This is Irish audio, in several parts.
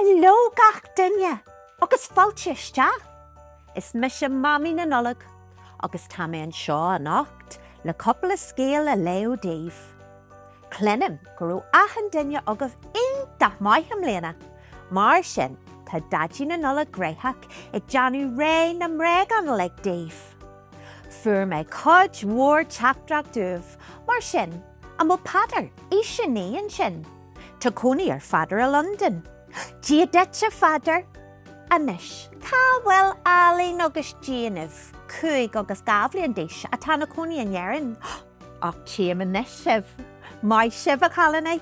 Heileo gach duine agus fáilte isteach! Is mise Mamaí na Nollag agus tá mé anseo anocht le cúpla scéal a léamh daoibh. Cluinim go raibh achan duine agaibh iontach maith i mbliana, mar sin tá Daidí na Nollag gnoitheach ag déanamh réidh na mbréagán uilig daoibh! Fuair mé cuid mhór teachtaireachtaí uaibh, mar sin, an bhfuil Peadar, aois a naoi, ansin? Tá cónaí ar Pheadar i Londain. Dia duit, a Pheadair! Anois, cá bhfuil ealaín agus déanamh? Cúig agus dhá bhliain d'aois atá ina cónaí in Éirinn. Ach tchím anois sibh. Maith sibh, a chailíní!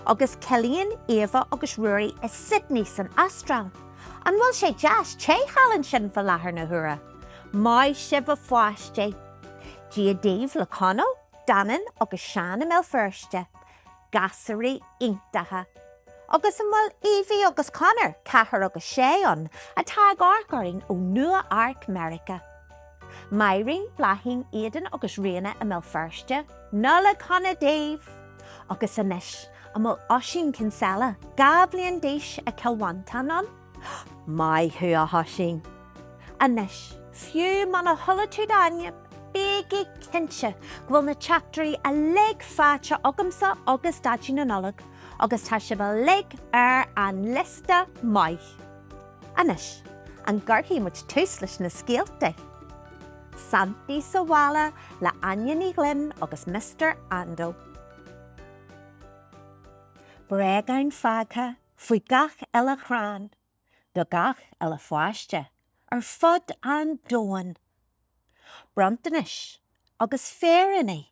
Agus Cillian, Éabha agus Ruairí i Sydney san Astráil. An bhfuil sé deas te thall ansin fa láthair na huaire? Maith sibh a pháistí. Dia daoibh le Conall, Danann agus Seán i mBéal Feirste. Gasúraí iontacha. Agus an bhfuil Evie agus Conor, 4 agus 6, ann atá ag amharc orainn ó Nua-Eabhrac, Meiriceá. Máirín, Bláithín, Aidan agus Ríona i mBéal Feirste. Nollaig Shona daoibh! Agus anois, an bhfuil Oisín Kinsella, 2 bhliain d'aois, i gCill Mhantáin ann? Maith thú, a Oisín. Anois, fiú muna chuala tú d'ainm, bígí cinnte go bhfuil na teachtairí uilig faighte agamsa agus Daidí na Nollag, agus tá sibh uilig ar an liosta maith. Anois, an gcuirfidh muid tús leis na scéaltaí? Santaí sa Bhaile le Áine Ní Ghlinn agus Mister Ando. Bréagáin fágtha faoi gach uile chrann, do gach uile pháiste ar fud an domhain. Bronntanais agus féiríní,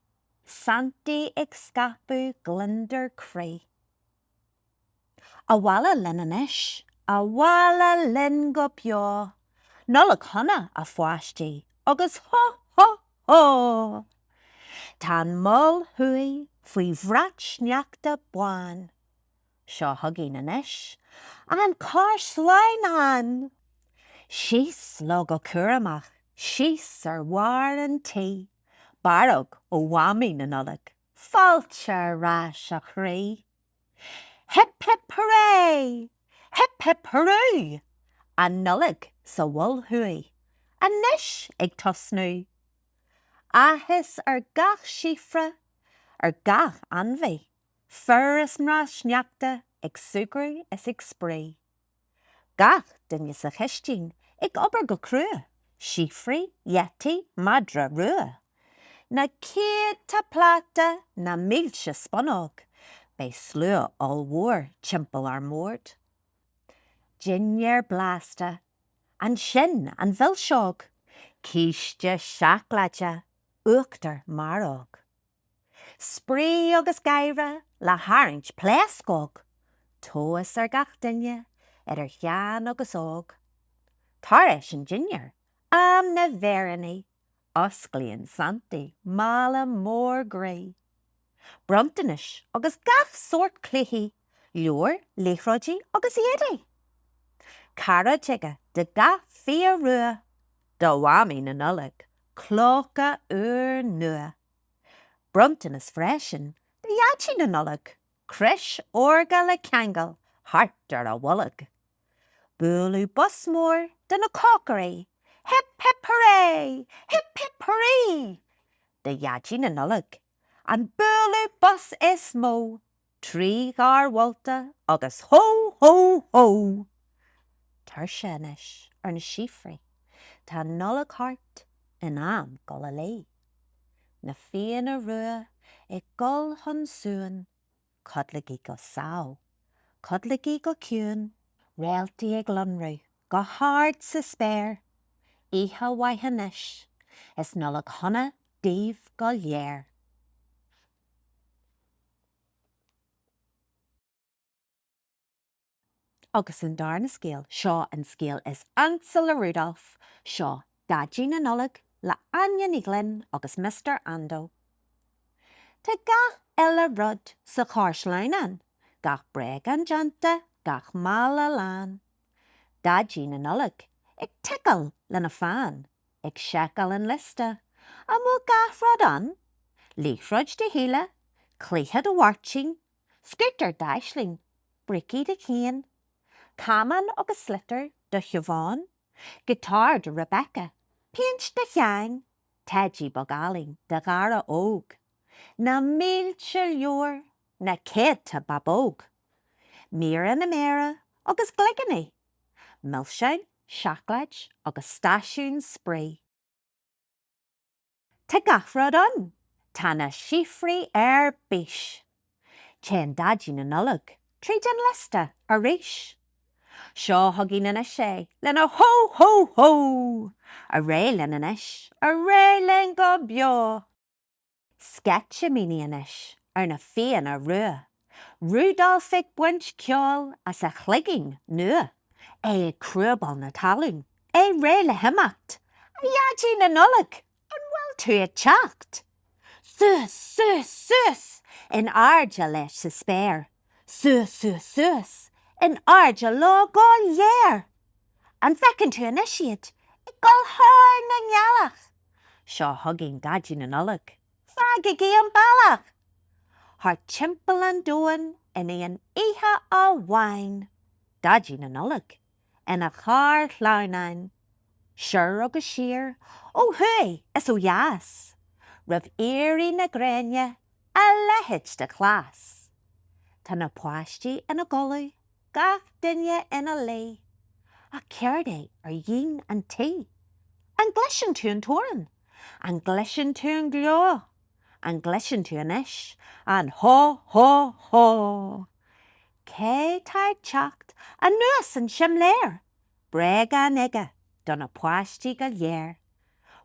Santaí ag scaipeadh gliondar croí. Abhaile linn anois, abhaile linn go beo, Nollaig Shona, a pháistí, agus hó hó hó! Tá an Mol Thuaidh faoi bhrat sneachta bán. Seo chugainn anois an carr sleamhnáin! Síos leo go cúramach, síos ar bharr an tí. Barróg ó Mhamaí na Nollag, Fáilte ar ais, a chroí! Hip hip hooray! Hip hip hurú! An Nollaig sa Mhol Thuaidh anois ag tosnú! Áthas ar gach síofra, ar gach ainmhí Fir is mná sneachta ag súgradh is ag spraoi. Gach duine sa chistín ag obair go crua, síofraí, yeti, madra rua. Na céadta pláta, na mílte spúnóg, beidh slua ollmhór timpeall ár mbord. Dinnéar blasta, ansin an mhilseog, císte seacláide, uachtar maróg. Spraoi agus gáire le tharraingt pléascóg, tá áthas ar gach duine, idir shean agus óg. Tar éis an dinnéir, am na bhféiríní, osclaíonn Santaí mála mór groí. Bronntanais agus gach sórt cluichí. leabhair, liathróidí agus éadaí. Cairéad aige do gach fia rua do Mhamaí na Nollag, clóca úr nua. Bronntanas freisin do Dhaidí na Nollag, crios órga le ceangal thart ar a bholg. Bualadh bos mór do na cócairí, Hip hip hooray! Hip hip hooray! Do Dhaidí na Nollag, an bualadh bos is mó! Trí gháir mholta agus Hó! Hó! Hó! Tuirse anois ar na síofraí, tá an Nollaig thart, in am dul a luí. Na fianna rua ag gol chun suain, codlaigí go sámh, codlaigí go ciúin. Réaltaí ag lonrú go hard sa spéir, oíche mhaith anois is Nollaig shona daoibh go léir. Agus an darna scéal, seo an scéal is ansa le Rudolph, seo Daidí na Nollag le Áine Ní Ghlinn agus Mister Ando. Tá gach uile rud sa charr sleamhnáin, gach bréagán déanta, gach mála lán. Daidí na Nollag ag ticeáil lena pheann. Ag seiceáil an liosta. An bhfuil gach rud ann? Liathróid do Shíle, cluiche do Mháirtín, scútar d'Aisling, brící do Chian, camán agus sliotar do Shiobhán, giotár do Rebecca, péint do Sheán, teidí beag álainn do Dhara Óg. Na mílte leabhar, na céadta bábóg, míreanna mearaí agus gligíní. milseáin, seacláid agus stáisiún spraoi. Tá gach rud ann. Tá na síofraí ar bís. Téann Daidí na Nollag tríd an liosta arís. Seo chugainn anois é lena Hó! Hó! Hó! Ar aghaidh linn anois, ar aghaidh linn go beo! Sceitimíní anois ar na Fianna Rua, Rudolf ag baint ceoil as a chloigín nua, é ag crúbáil na talún, é réidh le himeacht. 'A Dhaidí na Nollag, an bhfuil tú ag teacht? Suas, suas, suas in airde leis sa spéir. Suas, suas, suas, in airde leo go léir. An bhfeiceann tú anois iad ag dul thar an ngealach? Seo chugainn Daidí na Nollag, fágaigí an bealach! Thart timpeall an domhain in aon oíche amháin. Daidí na Nollag, ina charr shleamhnáin, soir agus siar, ó thuaidh is ó dheas, roimh éirí na gréine, a leithéid de chleas! Tá na páistí ina gcodladh, gach duine ina luí, ach céard é ar dhíon an tí? An gcloiseann tú an torann? An gcloiseann tú an gleo? An gcloiseann tú anois an hó hó hó? Cé tá ag teacht anuas an simléar? Bréagán aige do na páistí go léir.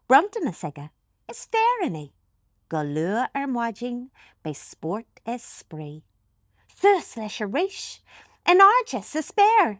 Bronntanas aige is féiríní. Go luath ar maidin beidh spórt is spraoi. Suas leis arís, in airde sa spéir!